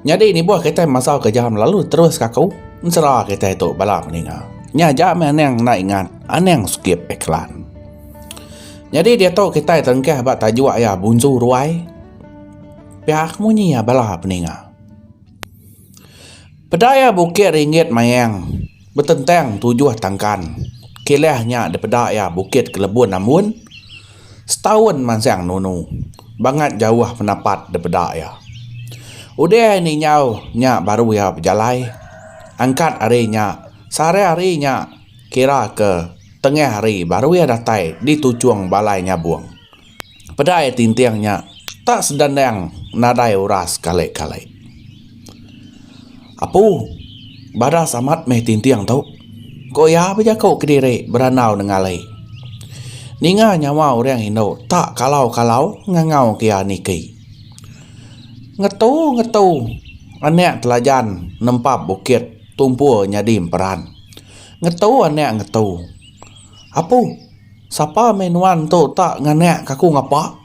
Nyadi nibuh kitai masau ke jam lalu terus ke aku, ensera kitai tu bala meninga. Nya aja meh aning enda ingat, aning skip iklan. Nyadi diatu kitai terengkah ba tajuk iya Bunsu Ruai. Pia ke munyi iya bala peninga. Peda iya bukit ringgit mayang. Betentang tujuh tangkan kilah nya dipeda iya Bukit Kelebun Ambun, setaun mansang nunu bangat jauh penapat dipeda iya. Udah ari ninjau nya baru iya bejalai angkat ari nya sehari hari nya kira ke tengah hari baru iya datai di tuchung balai nyabung. Pedai tinting nya tak sedendang nadai uras kali-kali. Apu, badas amat meh tinting tu, ku iya bejaku kediri berandau nengali. Ninga nyawa orang indu tak kalau-kalau ngangau ke iya niki. Ngetu-ngetu anak telajan nempap bukit tumpul nyadi emperan. Ngetu anak ngetu. Apu. Sapa meh nuan tu tak nganak ke aku ngapa.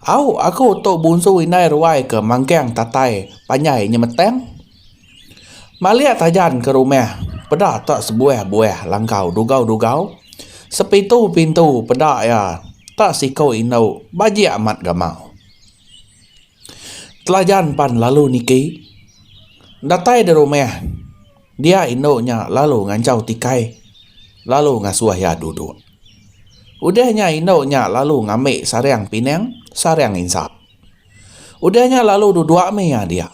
Au aku tu bunsu indai ruai ke mangkang tatai panjai nyemetang. Malik tajan ke rumah peda tak sebuah buah langkau dugau-dugau sepitu pintu peda ia tak siko indu bajik amat gamau. Telajan pan lalu niki. Datai di rumah. Dia indu nya lalu nganjau tikai lalu ngasuh iya duduk. Udah nya indu nya lalu ngambi sarang pinang, sarang insap. Udah nya lalu duduk mih iya dia.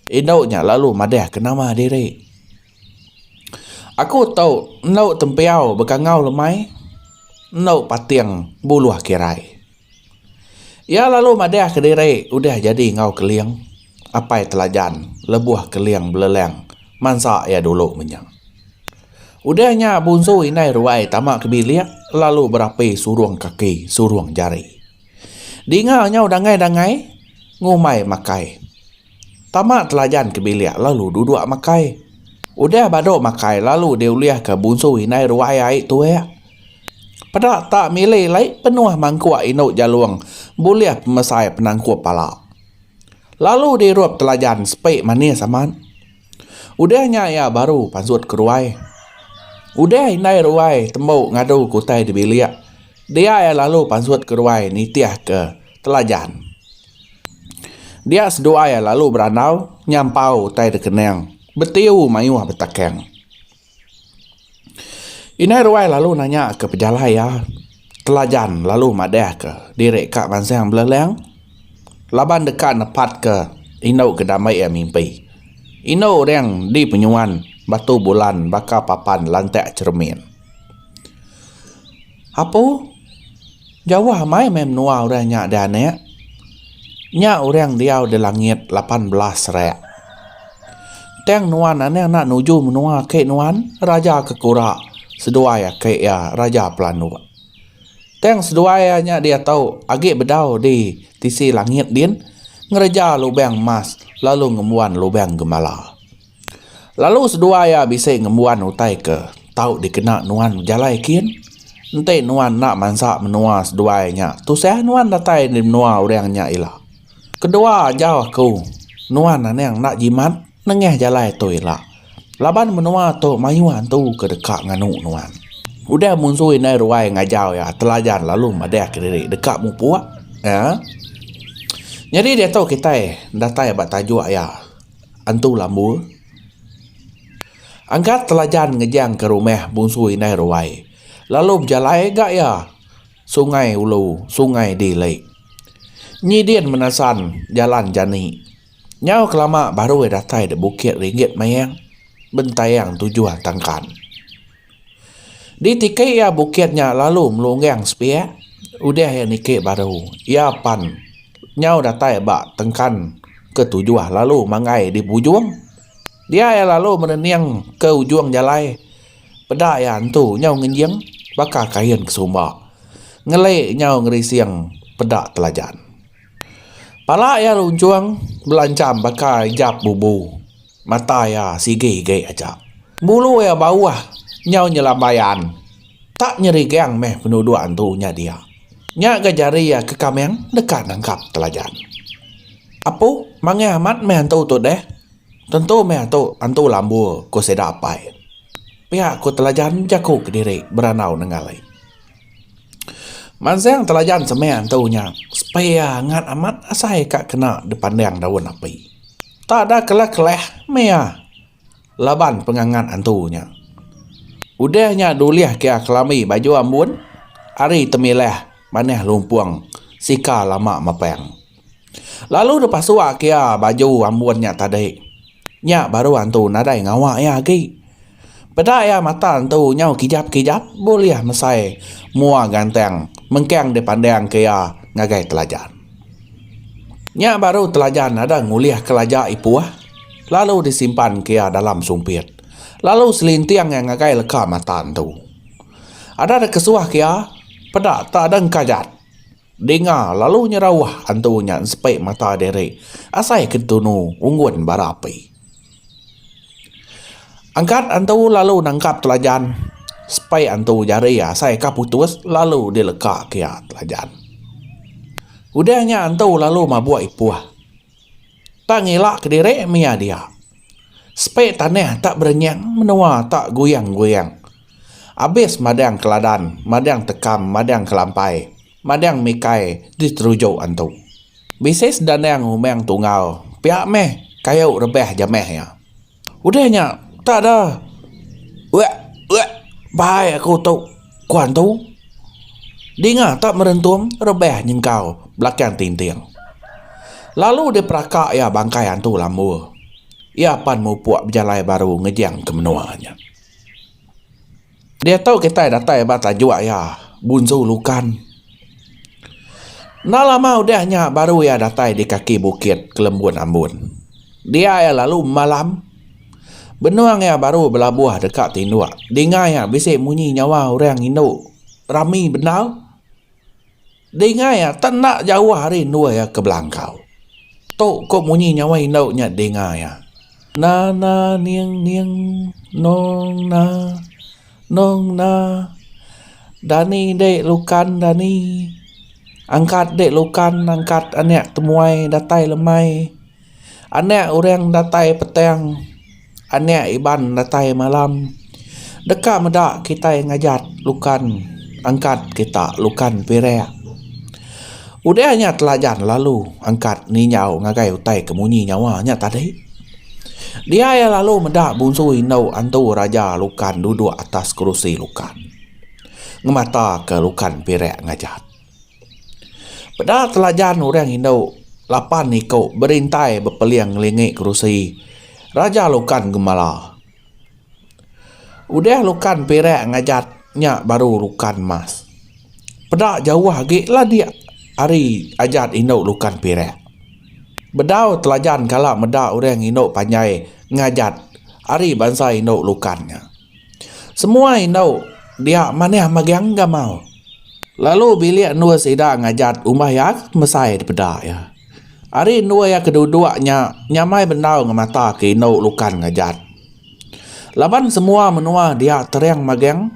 Indu nya lalu madah ke nama diri. Aku tu endu tempiau bekangau lemai, endu pating buluh kirai. Iya lalu madah ke diri udah jadi enggau Keling apai telajan lebuh Keling beleleng mansa iya dulu menya. Udah nya Bunsu Indai Ruai tama ke bilik lalu berapi surung kaki surung jari. Dinga nyau dangai-dangai ngumbai makai. Tama Telajan ke bilik lalu duduk makai. Udah badu makai lalu diulihka Bunsu indai ruai ai tuek. Peda tak milih lai penuh mangkuk indu Jalong bulih pemesai penangkup pala. Lalu dirup Telajan sepi manis amat. Udah nya iya baru pansut ke ruai. Udah indai ruai tembu ngadu ke utai di bilik, dia iya lalu pansut ke ruai nitihka Telajan. Dia seduai iya lalu berandau nyampau utai dekening betiu mayuh betakang. Indai ruai lalu nanya ke pejalai iya telajan lalu madah ke diri ka mansang beleleng laban deka nepat ke indu ke damba iya mimpi. Indu orang di penyuan batu bulan baka papan lantak cheremin. Apu, jauh amai meh menua orang nya dianek. Nya orang diau di langit lapan belas rek. Tang nuan anang enda nuju menua aki nuan, Raja ke Kura, seduai aki iya, Raja Pelanduk. Tang seduai iya nya diatu agi bedau di tisi langit din ngereja lubang emas lalu ngembuan lubang gembala. Lalu seduai iya bisi ngembuan utai ke tau dikena nuan bejalai kin. Enti nuan enda mansa menua seduai nya, tusah nuan datai di menua orang nya ila. Kedua ajau aku, nuan anang enda jimat nengah jalai tu ila. Laban menua tu mayuh antu ke deka nganu nuan. Udah munsu indai ruai ngajau iya telajan lalu madahka diri deka mupuk. Nya. Nyadi diatu kitai datai ba tajuk iya. Antu Lambu, Angkat Telajan ngejangka rumah bungsu indai ruai lalu bejalai ga iya Sungai Ulu Sungai di lei. Nyi din menasan jalan jani. Nyau kelama baru iya datai dek Bukit Ringgit Mayang bentayang tujuh tangkan. Ditiki iya bukit nya lalu melunggang sepiak udah iya niki baru iya pan nyau datai ba tengkan ke tujuh lalu manggai di ujung dia iya lalu menening ke ujung jalai peda iya entu nyau ngenjing baka kain ke sumba ngeli nyau ngerising peda telajan pala iya lunchung belancham baka ijap bubu. Mata iya sigi igi aja. Bulu iya bauh nyau nyelambai an. Tak nyerigang meh penuduk antu nya dia. Nya ga jari iya ke kameng deka nangkap telajan. Apu, mangih amat meh antu tu deh. Tentu meh atu antu lambu, ku sida apai. Pia ku telajan bejaku kediri berandau nenggali. Mansang telajan semeh antu nya, sepia angat amat asai ka kena dipandang daun api. Tak ada keleh-keleh mea laban pengangat antu nya. Udah nya dulih kia kelambi baju ambun ari Temileh manah lumpung sika lama mepang. Lalu depasua kia baju ambun nya tadi. Nya baru antu nadai ngawa iya agi. Peda iya mata entu nyau kijap-kijap bulih mesai mua gantang mengkang dipandangka iya ngagai Telajan. Nya baru Telajan ada ngulih kelaja ipuh lalu disimpanka iya dalam sumpit lalu selinting iya ngagai leka mata entu. Ada dikesuhka iya peda tak dengkajat. Dinga lalu nyerauh antu nya ensepik mata diri asai ke tunu unggun bara api. Angkat antu lalu nangkap telajan sepik antu jari asai ka putus lalu dileka kia telajan. Udah nya antu lalu mabuk ipuh. Tang ila kediri mia dia. Sepi tanah tak berenyang menua tak guyang-guyang. Abis madang keladan, madang tekam, madang kelampai, madang mikai diteruju antu. Bisi sedanang umang tunggal pia meh kayu rebah jamah iya. Udah nya tak ada uek uek bai aku tu ku antu. Dinga tak merentum rebah nyengkau belakang tinting. Lalu diperaka iya bangkai antu lambu. Iya pan mupuk bejalai baru ngejang ke menua nya. Diatu kitai datai ba tajuk iya, Bunsu Lukan. Enda lama udah nya baru iya datai di kaki bukit Kelembun Ambun. Dia iya lalu malam. Benung iya baru belabuh deka tinduk, dinga iya bisi munyi nyawa orang indu rami bendar. Dinga iya tak enda jauh ari endur iya ke belangkau. Tu ko munyi nyawa indu nya dinga iya. Na na ning ning nong na nong na dani de lukan dani angkat de lukan angkat anek temuai datai lemai. Anak orang datai petang, anak Iban datai malam, deka meda kitai ngajat lukan angkat kita lukan pirak. Udah nya telajan lalu angkat ninjau ngagai utai ke munyi nyawa nya tadi. Dia iya lalu meda bunsu indu antu raja lukan duduk atas kerusi lukan ngemataka lukan pirak ngajat. Peda telajan orang indu lapan iku berintai bepeling ngelingi kerusi Raja Lukan Gembala. Udah Lukan Perak ngajat nya baru Lukan Mas. Peda jauh agi lah dia ari ajat indu Lukan Perak. Bedau telajan kala meda orang indu panjai ngajat ari bansa indu Lukan nya. Semua indu dia manih magang gamal lalu bilik endur sida ngajat umbah iya mesai dipeda iya. Ari endur iya ke duduk nya nyamai bendar ngemata ke indu lukan ngajat. Laban semua menua dia tering magang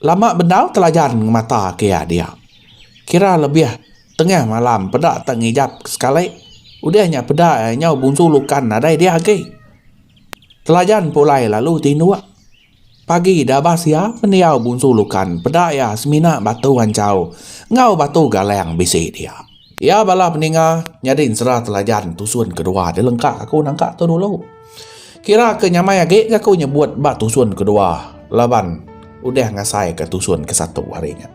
lama bendar telajan ngemata ke iya dia. Kira lebih tengah malam peda tak ngijap sekali. Udah nya peda iya nyau bungsu lukan nadai dia agi. Telajan pulai lalu tinduk. Pagi dabas iya pendiau Bunsu Lukan peda iya semina batu anchau enggau batu galang bisi dia. Iya bala peninga nyadi ensera Telajan tusun kedua dilengka aku nangka tu dulu. Kira ke nyamai agi ga aku nyebut ba tusun kedua laban udah ngasaika tusun ke satu ari nya.